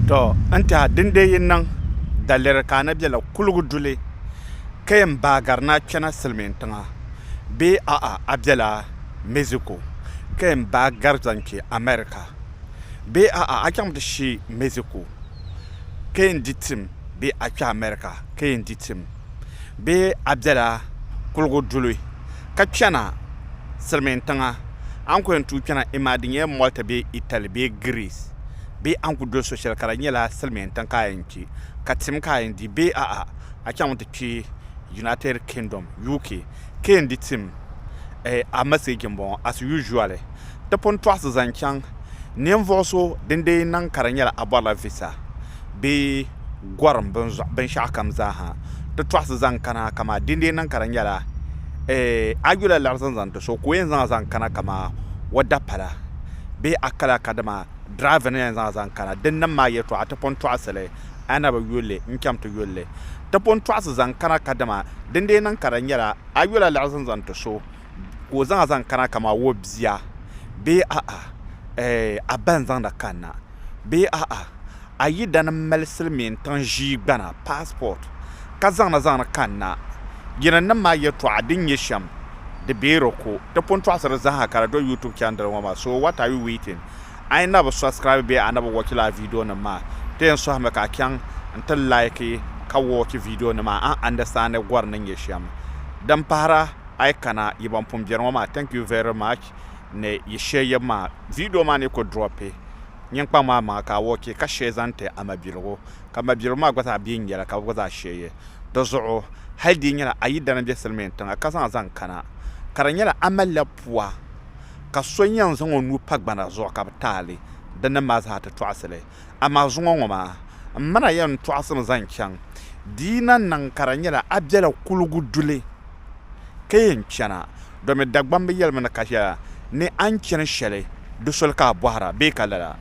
To n tiha din dee yi niŋ daliri ka a na bela kuligu duli ka yɛn baagiri ni a kpɛna Silimiin tiŋa bee a'a a bela Mexico ka yɛn baagiri zaŋ kpe America bee a'a a chaŋmi ti shi Mexico ka yɛn di tim bee a kpe America ka yɛn di tim bee a bela kuligu duli ka kpɛna Silimiin tiŋa a ni ku yɛn tuui kpɛna imaa di nyɛla Malta bee Italy bee Greece. bee a ni ku doli so shɛli ka di nyɛla silimiin tiŋ ka a yɛn kpi ka tim ka a yɛn di bee a'a, a chaŋ n-ti kpi United Kingdom, UK, ka yɛn di tim? Eh, a message m-bɔŋɔ, as usually, ti pun tɔɣisi zaŋ chaŋ ninvuɣ so din dee niŋ ka di nyɛla a bɔrila visa bee. gɔrim binshɛɣukam zaaha ti tɔɣisi zaŋ kana kamaa din dii niŋ ka di nyɛla a yula liɣiri zaŋ zaŋ ti so ka o yɛn zaŋ zaŋ kana kamaa o dapala bee a kala kadama dirava ni yɛn zaŋ zaŋ kana din niŋ maa yɛtɔɣa ti pun tɔɣisi li a na bi yuli li n-chaŋ ti yuli li ti pun tɔɣisi zaŋ kana kadama din dii niŋ ka di nyɛla a yula liɣiri zaŋ zaŋ ti so ka o zaŋ a zaŋ kana kamani o bia bee a'a eh a ba n zaŋd a kanna bee a'a a yidana n mali silimiin tiŋ ʒii gbana, passport, ka zaŋna zaŋdi kanna yinim nim maa yɛltɔɣa din nyɛ shɛm di bee di ku ti pun tɔɣisiri zaaha ka di do YouTube chandel ŋɔ maa so what are you waiting a yi na bi subscribe bee a na bi watch lala video nim maa ti yɛn sɔhimi ka a chaŋ n ti like ka watch video nim maa a understand gɔri ni nyɛ shɛm din pahira a yi kana yi ban pun beri ŋɔ maa thank you very much ni yi share yeb maa video maa ni ku drop nyinkpaŋ maa maŋa ka a watch ka share zaŋ ti a mabiligu ka mabiligu maa gba zaa bɛ yi nyela ka bɛ gba zaa share ye di zuɣu hali di nyela a yidana be silimiin tiŋa ka zaŋ a zaŋ kana ka di nyela a mali la pua ka so yen zaŋ o nuu pa gbana zuɣu ka bɛ taali di nim maa zaa ti tɔɣisili. Amaa zuŋɔ ŋɔ maa, m mana yɛn tɔɣisim zaŋ chaŋ, di yi na niŋ ka di nyɛla a bela kuligu duli ka yɛn chana, domi Dagbamba bi yɛlimi ni ka shɛla ni a ni chani shɛli di soli ka a bɔhira bee ka lala?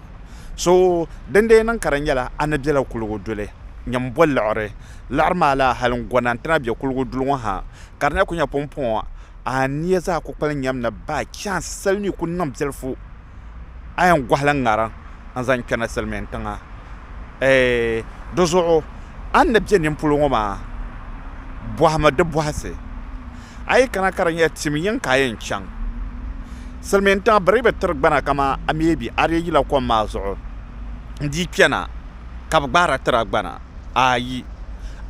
So din dee niŋ ka di nyɛla a ni bela kuligu duli, nyɛ m bo liɣiri. Liɣiri maa laa hali n gona nti na be kuligu duli ŋɔ ha, ka di na kuli nyɛ pumpɔŋɔ, a nia zaa kukpali nyam ni baai chaansi sali mi kuli niŋ biɛlifu. a yɛn gɔhila ŋariŋ n-zaŋ kpɛri silimiin tiŋa eei di zuɣu a ni be nini polo ŋɔ maa bɔhimi di bɔhisi a yi kana ka di nyɛ tim yiŋ ka a yɛn chaŋ silimiin tiŋa bɛ dii bi tiri gbana kaman a mi bi a dii yila kom maa zuɣu n-dii kpɛna ka bɛ gbaara tiri a gbana ayi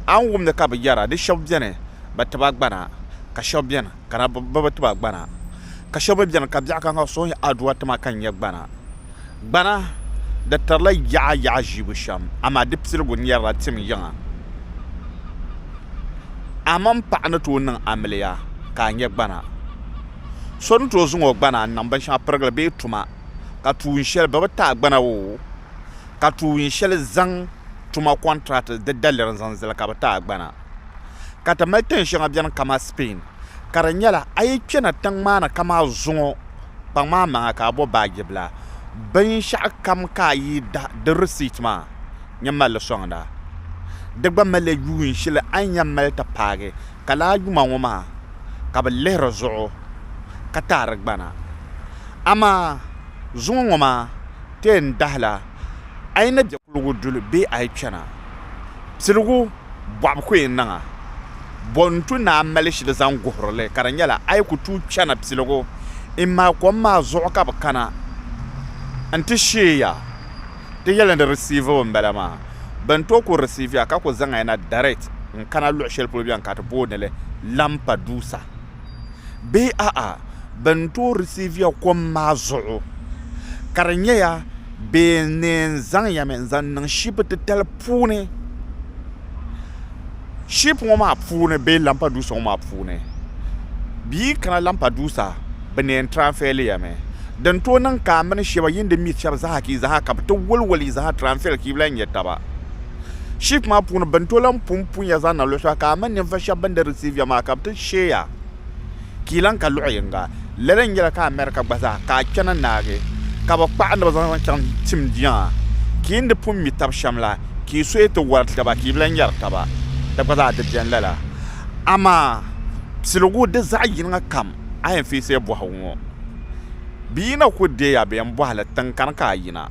a ni wum ni ka bɛ yɛra di shɛba beni bɛ ti ba gbana ka shɛba beni ka na bɛ bi ti ba gbana, ka shɛba mi beni ka biɛɣu ka ka suhuyini Adua ti ma ka n nya gbana. Gbana di tirila yaɣa yaɣa ʒiibu shɛm amaa di piligu nyɛrila tim yiŋa. A mini paɣa ni tooi niŋ amiliya ka a nya gbana. So ni tooi zaŋ o gbana n-niŋ binshɛŋa pirigili bee tuma ka tuun shɛli bɛ bi ti a gbana oo, ka tuun shɛli zaŋ tuma kɔntirati di daliri n-zaŋ zali ka bɛ ti a gbana. ka ti mali tin shɛŋa beni kaman Spain ka di nyɛla a yi kpena tiŋ maa ni ka maa zuŋɔ kpaŋ maa maŋa ka a bo baaji bila binshɛɣu kam ka a yi da di receipt maa nyin mali li soŋda di gba malila yuun shɛli a ni yɛn mali ti paagi ka lala yuma ŋɔ maa ka bɛ lihiri zuɣu ka ti a di gbana amaa zuŋɔ ŋɔ maa ti yɛn dahila a yi ni be kuligu duli bee a yi kpena. Piligu bɔɣibu ku yi niŋ a, bɔ n-tu ni a mali shili zaŋ guhiri li, ka di nyɛla a yi ku tuui chana piligu immai kom maa zuɣu ka bɛ kana nti sheei ya, ti yɛli ni di risiivi ba m-bala maa, bɛn tooi ku risiivi ya ka ku zaŋ ya na direct n-kana luɣ shɛli polo bɛn ka ti booni li Lampadusa. bee a'a bɛ ni tooi risiiviya kom maa zuɣu ka di nyɛya bɛ ni zaŋ ya mi n-zaŋ niŋ shipu titali puuni shipu ŋɔ maa puuni bee lampaduusa ŋɔ maa puuni bɛ yi kana lampaduusa bɛ ni yɛn tiranfɛli ya mi din tooi niŋ ka a mini shɛba yi ni di mi shɛba zaa ka bɛ ti waliwali yi zaa tiranfɛli ka yi lahi nya taba. ship maa puuni bin to lan pun punya zaŋ na luɣi shɛli ka a mini ninvuɣ shɛb bɛn di risiiviya maa ka bɛ ti sheeya ka yi lan ka luɣ yiŋga. Lala n-nyɛla ka America gba zaa ka a kpɛna naagi ka bɛ kpaɣi ni bɛ zaŋ zaŋ chaŋ tim jiŋa ka yi ni di pun mi tab shɛm la ka yi suhi ti wari taba ka yi bi lan yɛri taba. Di gba zaa di beni lala. Amaa piligu di zaɣ yiŋa kam a yɛn feesi ya bɔhigu ŋɔ. Bɛ yi na ku deei ya bɛ yɛn bɔhi li tiŋkani ka a yina.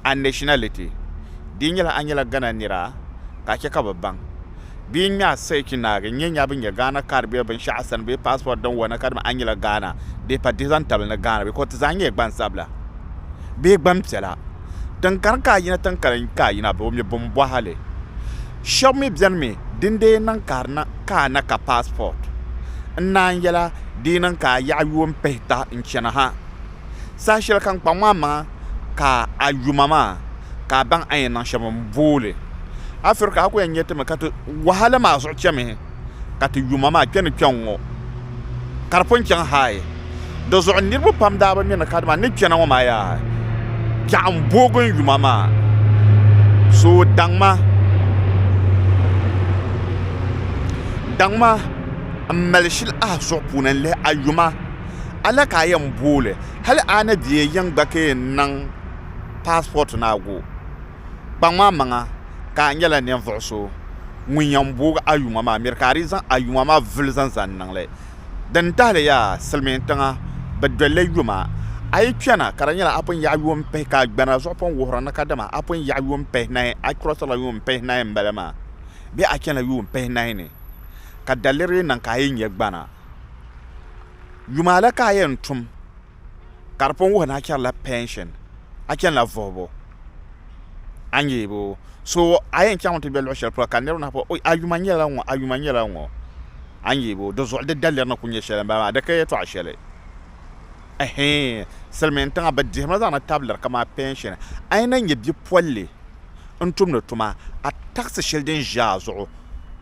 a nationality, di yi nyɛla a nyɛla Ghana nira ka a chɛ ka bɛ baŋ. Bɛ yi ŋme a search naagi n-nyɛ nya bɛ nyɛ Ghana card bee binshɛɣu sani bee passport din wana kadama a nyɛla Ghana bee pa di zaŋ tabili ni Ghana because ti zaa nyɛla gbansabila bee gbampiɛla. Din gari ka a yina tiŋ kali ka a yina bɛ o mi bimbɔhili. Shɛb mi beni mi din dee niŋ ka di niŋ ka a na ka passport n-naan yɛla di yi niŋ ka a yaɣi yuun pihita n-chani ha. Saha shɛli ka n kpaŋ maa maŋa ka a yuma maa ka a baŋ a ni yɛn niŋ shɛm m-booli Afirika a ku yɛn nyɛ ti mi ka ti wahala maa zuɣu chɛmihi ka ti yuma maa kpe ni kpɛŋŋo ka di pun chaŋ haai di zuɣu niriba pam daa bi mi ni kadama n ni kpɛna ŋo maa yaa piɛɣu m-boogi n yuma maa so daŋma daŋma m mali shili ahi suɣu puuni n lihi a yuma a la ka a yɛn booli hali a ni deei yiŋ gba ka yɛn niŋ paasipɔt ni a go. Kpaŋmi a maŋa ka a nyɛla ninvuɣ so ŋun yɛn booi a yuma maa miri ka a dii zaŋ a yuma maa vuli zaŋ zani niŋ li. Din tahili yaa silimiin tiŋa bɛ dolila yuma. A yi kpɛna ka di nyɛla a pun yaɣi yuun pihi ka a gbana zuɣu pun wuhiri ni kadama a pun yaɣi yuun pihinahi a kurɔsirila yuun pihinahi m-bala maa bee a chanila yuun pihinahi ni ka daliri yi niŋ ka a yi nya gbana. yuma la ka a yɛn tum ka di pun wuhi ni a chɛrila pɛnshin a chanila vuhibu a ni yɛ boo so a yɛn chaŋmi ti bɛ luɣu shɛli polo ka niraba na pɔ a yuma nyɛla ŋɔ a yuma nyɛla ŋɔ a ni yɛ boo dizuɣu di daliri ni ku nyɛ shɛli n bala maa di ka yɛltɔɣa shɛli silmiin tiŋa bi dihimi zaŋdi tabili kamani pɛnshin a yi na nyɛ bipolili n tumdi tuma a takisi shɛli din ʒɛ a zuɣu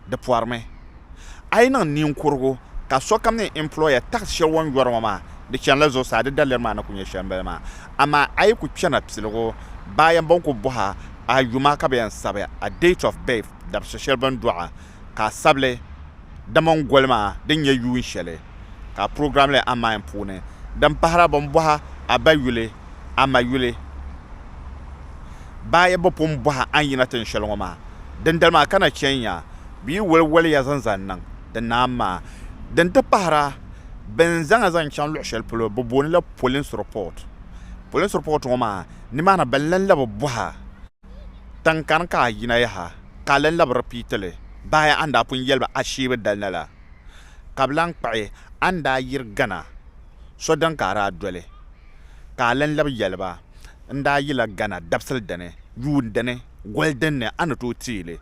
di porimi A yi niŋ ninkurugu ka sokam ni employer tax shɛli o ni yɔri ŋɔ maa di chanila zuɣusaa, di daliri maa ni ku nyɛ shɛli m-bala maa. Amaa a yi ku kpɛrina piligu, bɛ a yɛn bɔŋ ku bɔh a a yuma ka bɛ yɛn sabi a date of birth, dabisi shɛli bɛ ni dɔɣi a ka a sabi li di mini goli maa din nyɛ yuun shɛli. ka program le amain puuni din pahira bɛn bɔha a ba yuli a ma yuli baa yi bi pun bɔha a ni yina tin shɛli ŋɔ maa dindali maa ka na chɛ n-nya bɛ yi wali wali ya zaŋ zaŋ niŋ di naam maa din ti pahira bɛn zaŋ a zaŋ chaŋ luɣ shɛli polo bɛ booni la police report police report ŋɔ maa ni maa ni bɛ lan labi bɔha tiŋ kani ka a yina yaha ka a lan labi repeat li baa yi a ni daa pun yɛli ba a shee bi dali na la ka bɛ lan kpuɣi a ni daa yiri Ghana so din ka a daa doli, ka a lan labi yɛli ba, N daa yila Ghana dabisili dini, yuun dini, goli din ni a ni tooi teei li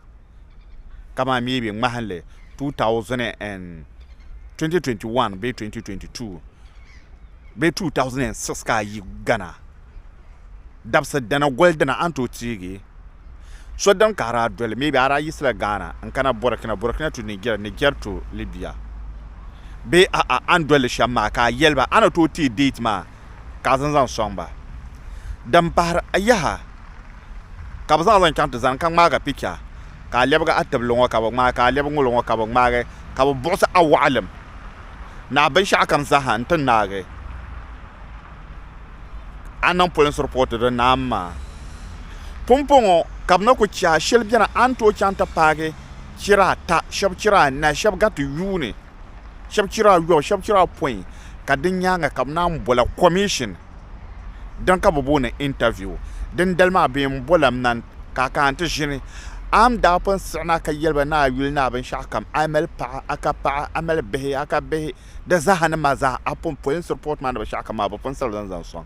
kamani maybe ŋmahinli 2021 bee 2022 bee 2006 ka a yi Ghana. dabsi dana goli dina a ni tooi teegi so din kahari a doli maybe a daa yiɣisila Ghana n kana Burkina Burkina to Niger Niger to Libya bee a'a a ni dolli shɛm maa ka a yɛli ba a ni tooi teei date maa ka a zaŋ zaŋ sɔŋ ba din pahari a yaha ka bi zaŋ a zaŋ chaŋ ti zani ka ŋmaaga picture ka a lɛbigi a tibili ŋɔ ka bi ŋmaagi ka a lɛbigi ŋɔlo ŋɔ ka bi ŋmaagi ka bi buɣisi a waɣilim ni a binshɛɣu kam zaaha n ti naagi a niŋ polinsi ripoti di ni am maa pumpɔŋɔ ka bɛ na ku chɛ a shɛli beni a ni tooi chaŋ ti paagi chira ata shɛba chira anahi shɛba gariti yuuni shɛba chira ayɔbu shɛba chira apɔin ka di nyaaŋa ka bɛ naan bol a kɔmishin din ka bɛ booni intaviu dindali maa bɛ yɛn bol a mani ka a kana ti ʒini a ni daa pun siɣina ka yɛli ba ni a yuli ni a binshɛɣukam a mali paɣa a ka paɣa a mali bihi a ka bihi Di zaaha ni maa zaaha a pun pɔi n-siri pɔɔt maa ni bɛ shɛɣu kam maa, bɛ pun sirila n zaŋ sɔŋ.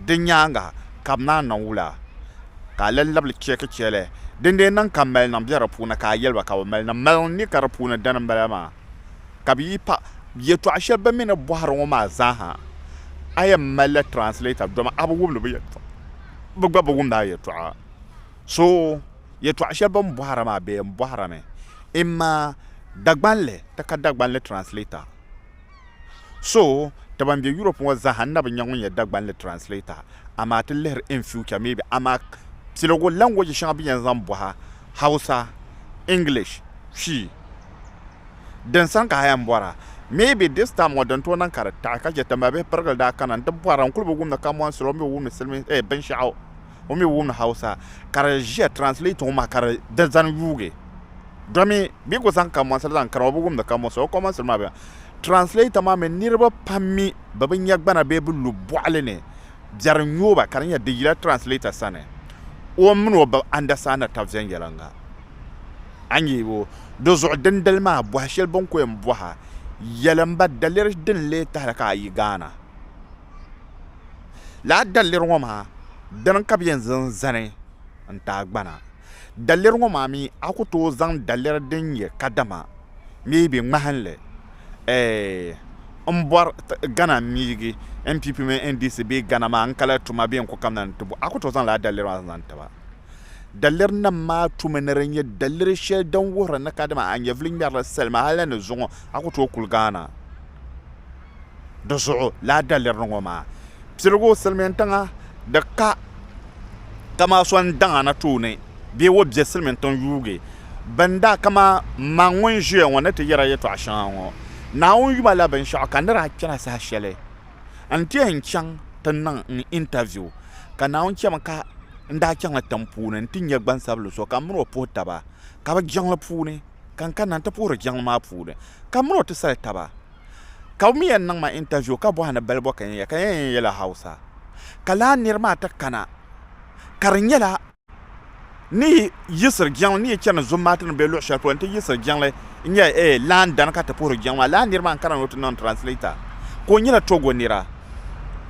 Di nyaaŋa ka bɛ naan niŋ wula, ka a lan labili cheeki chɛli din dee niŋ ka maliniŋ be di puuni, ka a yɛli ba ka bɛ mali niŋ maliniŋ ni ka di puuni dani m-bala maa, ka bɛ yi pa yɛtɔɣ shɛli bɛ mi ni bɔhiri ŋɔ maa zaaha, a yɛn malila translator, dama a bi wumdi bɛ yɛtɔɣa, bɛ gba bi wumdi a yɛtɔɣa. So. Yɛtɔɣ shɛli bɛ ni bɔhira maa bee m-bɔhirimi imma Dagbanli ti ka Dagbanli translator. So ti ban be Europe ŋɔ zaa ha n-na bi nya ŋun nyɛ Dagbanli translator amaa ti lihiri in future maybe amaa piligu language shɛŋa bɛ yɛn zaŋ bɔhi Hausa, English, Twi din sani ka ha yɛn bɔra maybe this time ŋɔ din tooi niŋ ka di taɣi ka chɛ ti mabihi pirigili daa kana n-ti bɔhira n-kuli bi wum ni kamɔnsili o mi o wumdi silimiinsi eeh binshɛɣu. O mi wumdi Hausa ka di ʒiya translate ŋɔ maa ka di di zani yuugi domi bɛ ku zaŋ kamoansili zaŋ kara o bi wumdi kamo so o komansili maa bɛla translator maa mi niriba pam mi bɛ bi nya gbana bee bi lu bɔɣili ni biɛri nyo ba ka di nya di yila translator sani o min o bi understand tab viɛnyɛliŋga a nya o di zuɣu dindali maa bɔhi shɛli bɛ ni ku yɛn bɔha yɛli m ba daliri din lee tahili ka a yi Ghana Lala daliri ŋɔ maa dini ka bɛ yɛn zaŋ zani n-taai gbana. Daliri ŋɔ maa mi a ku tooi zaŋ daliri din nyɛ kadama maybe ŋmahinli m-bɔri Ghana miigi NPP mini NDC bee Ghana maa n-kali tuma bee n-ku kamina ni ti bo a ku tooi zaŋ lala daliri maa zaŋ ti ba. Daliri nim maa tumi ni di nyɛ daliri shɛli din wuhiri ni kadama a nyɛvili ŋmɛrila salima hali ni zuŋɔ a ku tooi kuli gaana. di zuɣu lala dalirili ŋɔ maa piligu silimiin tiŋa di ka kaman so n-daŋ a na tooni bee o be silimiin tiŋ yuugi bini daa kaman ma ŋun ʒiya ŋɔ ni ti yɛri a yɛtɔɣ shɛŋa ŋɔ Naawuni yuma la binshɛɣu ka nir a chana saha shɛli nti yɛn chaŋ ti niŋ n interview ka Naawuni chɛmi ka n daa chaŋla tiŋ puuni nti nya gbansabinli so ka m min o puhi taba ka bɛ jiŋli puuni ka n kanna nti puhiri jiŋli maa puuni ka m min o ti sali taba. ka o mi yɛn niŋ ma interview ka bɔhi ni balibɔ ka yɛn ka yɛn yɛn yɛla Hausa ka laa niri maa ti kana ka di nyɛla ni yi yiɣisiri jiŋli ni yi chani zummaati ni bɛ luɣi shɛli polo n ti yiɣisiri jiŋli n nyɛ ee laan dani ka ti puhiri jiŋli maa laa niri maa n kana ni o ti niŋ translator ka o nyɛla Togo nira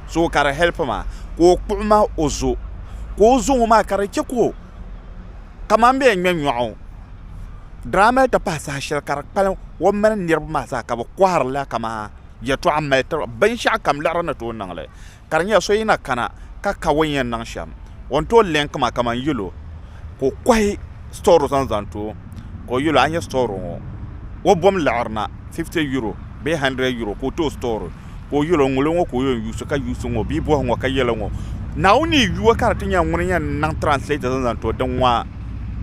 so ka di help ma ka o kpuɣi ma o zo ka o zo ŋɔ maa ka di chɛ ka o kamani bɛ yɛn ŋmɛ nyoɣu daa mali ti pahi saha shɛli ka di kpalim o ni mali niraba maa zaa ka bi koharila kamani yɛltɔɣa n mali tiriba binshaɣu kam liɣiri ni tooi niŋli ka di nyɛla so yina kana ka ka o ni yɛn niŋ shɛm o ni tooi lɛnki maa kamani yɛlo ka o kohi sitɔri zaŋ zaŋ too ka o yɛlo a ni nyɛ sitɔri ŋo o bom liɣiri na fifti yuro bee handurɛd yuro ka o too sitɔri ka o yɛl o, Ŋulo ŋɔ ka o yɛn yuui so, ka yuui so ŋɔ bee bɔhi ŋɔ ka yɛl o ŋɔ. Naawuni yi yuui o ka di ti nyɛla ŋuni yɛn niŋ translator zaŋ zaŋ ti o, din ŋɔ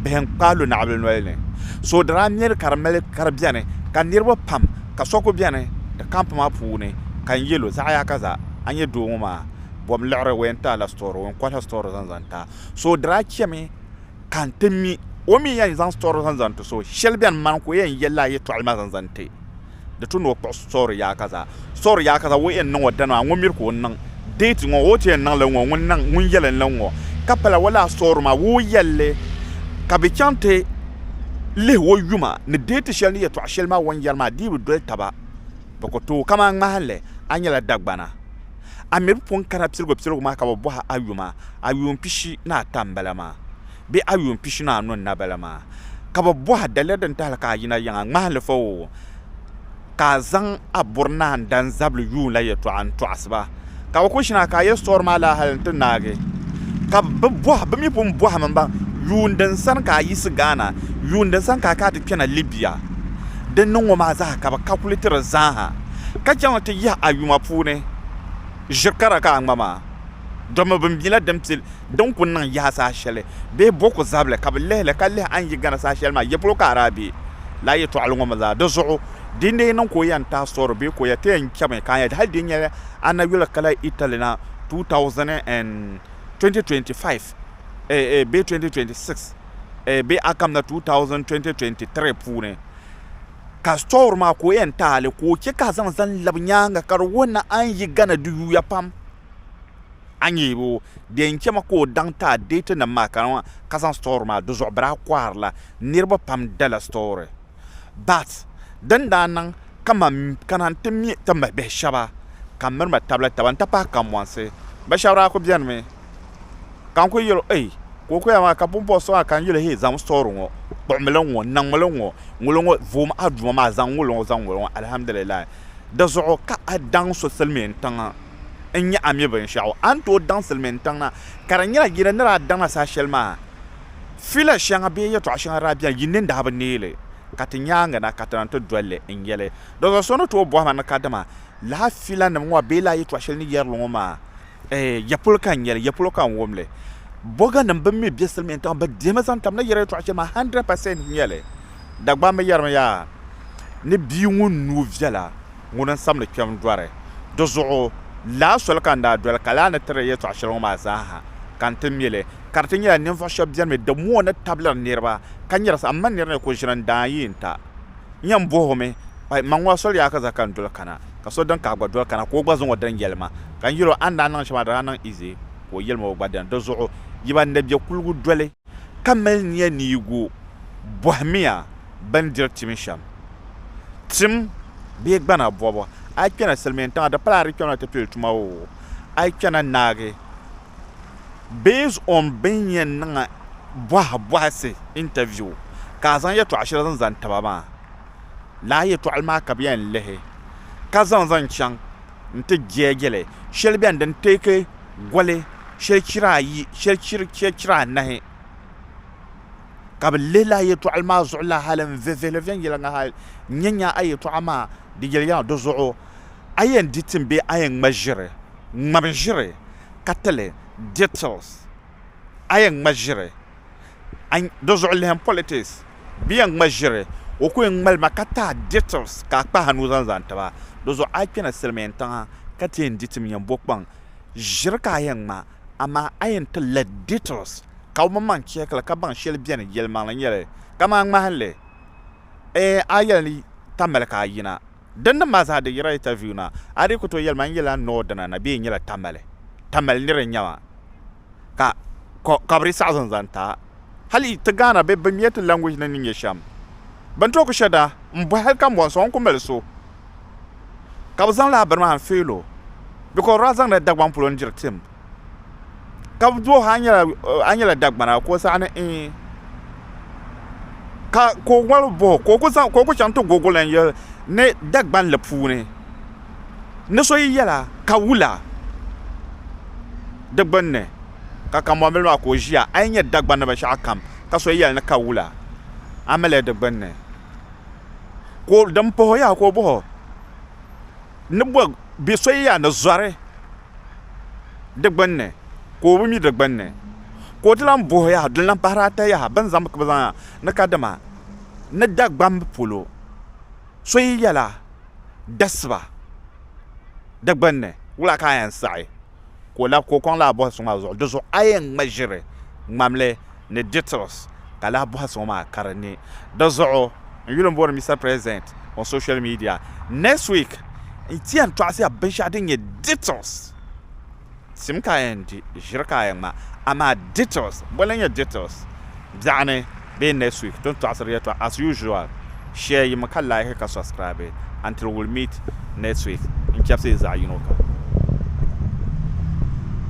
bihi n-kpaai lu naɣibili noli ni. So daa miri ka di mali ka di beni ka niriba pam ka so kuli beni di camp maa puuni ka n yɛl o, Zaɣ yaa ka za, a nya doo ŋɔ maa, bom liɣiri o yɛn ti a la story, o yɛn kɔhi la story zaŋ zaŋ ti a. So daa chɛmi. ka n ti mi o mi yɛn zaŋ sitori zaŋ zaŋ ti so shɛli bɛn mani ka o yɛn yɛli a yɛtɔɣali maa zaŋ zaŋ ti di tu ni o kpuɣi sitori yaaka zaa sitori yaaka zaa o yɛn niŋ o dani maa ŋun miri ka o niŋ deeti ŋɔ o ti yɛn niŋ li ŋɔ ŋun niŋ ŋun yɛli li ŋɔ ka pala o laa sitori maa o yɛlli ka bi chaŋ ti lihi o yuma ni deeti shɛli ni yɛtɔɣa shɛli maa o ni yɛri maa dii bi doli taba bi ku tooi kamani ŋmahinli a nyɛla Dagbana A mi bi pun kana piligu piligu maa ka bi bɔhi a yuma, a yuun pishi ni ata m-bala maa, bee a yuun pishi ni anu n-nabala maa? Ka bi bɔh a, Daliya din tahili ka a yina yiŋ a ŋmahilifa o, ka a zaŋ a buri ni a ni dan zabili yuun la yɛtɔɣa n-tɔɣisi ba? Ka bi ku ʒini a ka a yɛli, Sitɔri maa laa hali nti naagi. Ka bɛ bɔh, Bɛ mi pun bɔhim m-baŋ, Yuun din sani ka a yiɣisi Ghana? Yuun din sani ka a kana ti kpɛna Libya? Din niŋ ŋɔ maa zaa ka bɛ kakulitiri zaaha. ka chaŋ ti yihi a yuma puuni ʒiri kara ka a ŋma maa, domi bɛ mila din pi din ku niŋ yaha saha shɛli bee bo ku zabili ka bɛ lihi li ka lihi a ni yi gana saha shɛli maa, yɛpolo ka a daa be lala yɛtɔɣili ŋɔ mi zaa. Di zuɣu di ni yi niŋ ka o yɛn taai sɔri bee ka o yɛn ti yɛn chami ka nya hali di ni nyɛla a na yuli kala Italy na 2025 bee 2026 bee a kam na 2023 puuni. ka sitɔri maa ka o yɛn taali ka o chɛ ka a zaŋ zani labi nyaaŋa ka di wuhi ni a ni yi Ghana di yuya pam a ni yɛn o di yɛn chɛmi ka o daŋ ti a deetinim maa ka niŋ ka zaŋ sitɔri maa di zuɣu biri a kɔhirila niriba pam dala sitɔri but din daa niŋ ka man kana n-ti me ti mi bihi shɛba ka m miri ma tabila taba n-ti pahi Kanbɔnsi bi shɛba daa kuli benimi Ka n ku yɛl o, Ei! Ka o ku yɛli ma, Ka pumpɔŋɔ so maa kan yuli hii zaŋm sɔɔri ŋɔ, kpuɣimi li ŋ-ŋɔ, niŋmi li ŋ-ŋɔ, ŋuli ŋɔ, voom a Duuma maa, zaŋ ŋuli ŋɔ, zaŋ ŋuli ŋɔ, Alhamdulillahi. Di zuɣu ka a daŋ so silimiintiŋ n-nyɛ a mi binshɛɣu, a ni tooi daŋ silimiintiŋ na. Ka di nyɛla yi ni ni daa daŋ a saha shɛli maa, fila shɛŋa bee yɛtɔɣ shɛŋa daa beni yi ni ni daa bi neei li, ka ti nyaaŋa na ka ti na nti doli li n-yɛl li. Di zuɣu so ni tooi bɔhi ma ni kadama lala filanim ŋɔ bee lala yɛtɔɣ shɛli ni yɛri li ŋɔ maa, Ɛɛ, ya polo ka n nya li, ya polo ka n wum li. Bɔganim bɛn mi be silimiintiŋ bɛ dihimi zaŋ tam na yɛri yɛtɔɣ shɛli maa 100 percent n-nyɛ li. Dagbamba yɛrimi yaa ni bia ŋun nuu viɛla ŋuni n-sab ni kpɛm dɔri. Di zuɣu laa soli ka n daa doli ka laa ni tiri yɛtɔɣ shɛli ŋɔ maa zaaha ka n ti mi li. Ka di ti nyɛla ninvuɣ shɛb beni mi di mooi ni tabili niriba ka nyɛrisi amaa nir ni ku ʒini n-daa yi n-ta. Nya m-bɔh o mi, Ai, mma ŋɔ a soli Yaakɛza ka n doli kana, ka so din ka a gba doli kana, ka o gba zaŋ o din yɛli ma. Ka n yɛl o, A ni daa niŋ shɛm a daa niŋ Ize, ka o yɛli ma o gba dini. Di zuɣu yi ba ni bɛ kuligu doli, ka mali nia ni yi gu, bɔhimiya bindiri tim shɛm. Tim bee gbana bɔbu, a yi kpɛna silimiintiŋa, di pala a di kpɛmi na ti pili tuma oo, a yi kpɛna naagi. based on bini yɛn niŋ bɔhi bɔhisi, interview, ka a zaŋ yɛtɔɣ shɛli zaŋ zani taba maa. Lala yɛtɔɣili maa ka bɛ yɛn lihi ka zaŋ zaŋ chaŋ nti jeeje li. Shɛli beni din take goli shɛli chira ayi shɛli chiri shɛli chira anahi. Ka bɛ lihi lala yɛtɔɣili maa zuɣu la hali n-vivihili viɛnyɛliŋga hali n-nya nya a yɛtɔɣa maa di yɛli ya di zuɣu. A yɛn di tim bee a yɛn ŋma ʒiri, ŋmabi ʒiri, ka ti li, details, a yɛn ŋma ʒiri, a, di zuɣu lihim politics, bɛ yɛn ŋma ʒiri, o ku yɛn ŋmali ma ka taai, details, ka a kpahi nuu zaŋ zani ti ba, di zuɣu a yi kpɛna silimiin tiŋa ka ti yɛn di tim yɛn bo kpaŋ, ʒiri ka a yɛn ŋma, amaa a yɛn ti li, details, ka o mini-maŋ check li ka baŋ shɛli beni yɛlimaŋli nyɛli, kaman ŋmahinli, Eeh a yɛli ni ta mali ka a yina. Din niŋ maa zaa di yira interview na. A dii ku tooi yɛli ma n yɛla n ni o dina na bee n nyɛla tamali. Tamali nir n-nyɛ ma. Ka ka ka bɛ dii saɣi zani zaŋ ti a. Hali ti Ghana bɛ bɛ miɛ ti language ni ni nyɛ shɛm. Bɛ ni tooi ku shɛ da n bɔhi hali ka m bɔhi n sɔŋ n ku mali so ka bɛ zaŋ lala bini maa n fail o because di daa zaŋ la Dagbaŋ polo n diri tim. ka bi duh a nyɛla dagbana ka o saɣa ni ee ka o ŋmaligi boho ka o ku chɛŋ ti gogo lahi yɛli ni dagbanli puuni ni so yi yɛla ka wula di gbunni ka kanbonbiri maa ka o ʒiya a yi nyɛ dagbani binshaɣu kam ka so yɛli ni ka wula a ni malili di gbunni din puhuya ka o boho ni so yɛya ni zori di gbunni ka o bi mi di gbunni ka o ti lahi booi yaha din lahi pahiri ata yaha bɛ ni zaŋ bɛ zaŋ ni kadama ni Dagbamb polo so yi yɛla dasiba di gbunni wula ka a yɛn saɣi ka o lab ka o kɔŋ laa bɔhisi ŋɔ a zuɣu di zuɣu a yɛn ŋma ʒiri ŋmamli ni details ka lahi bɔhi so ŋɔ maa ka di ne di zuɣu n yuli n bɔri Mister President on social media next week n ti yɛn tɔɣisi ya binshɛɣu din nyɛ details tim ka a yɛn di ʒiri ka a yɛn ŋma amaa details boli n nyɛ details biɛɣuni bee next week ti ni tɔɣisiri yɛltɔɣa as usual share yimi ka like ka subscribe until we'll meet next week n chɛbisi yi zaɣi yino kam.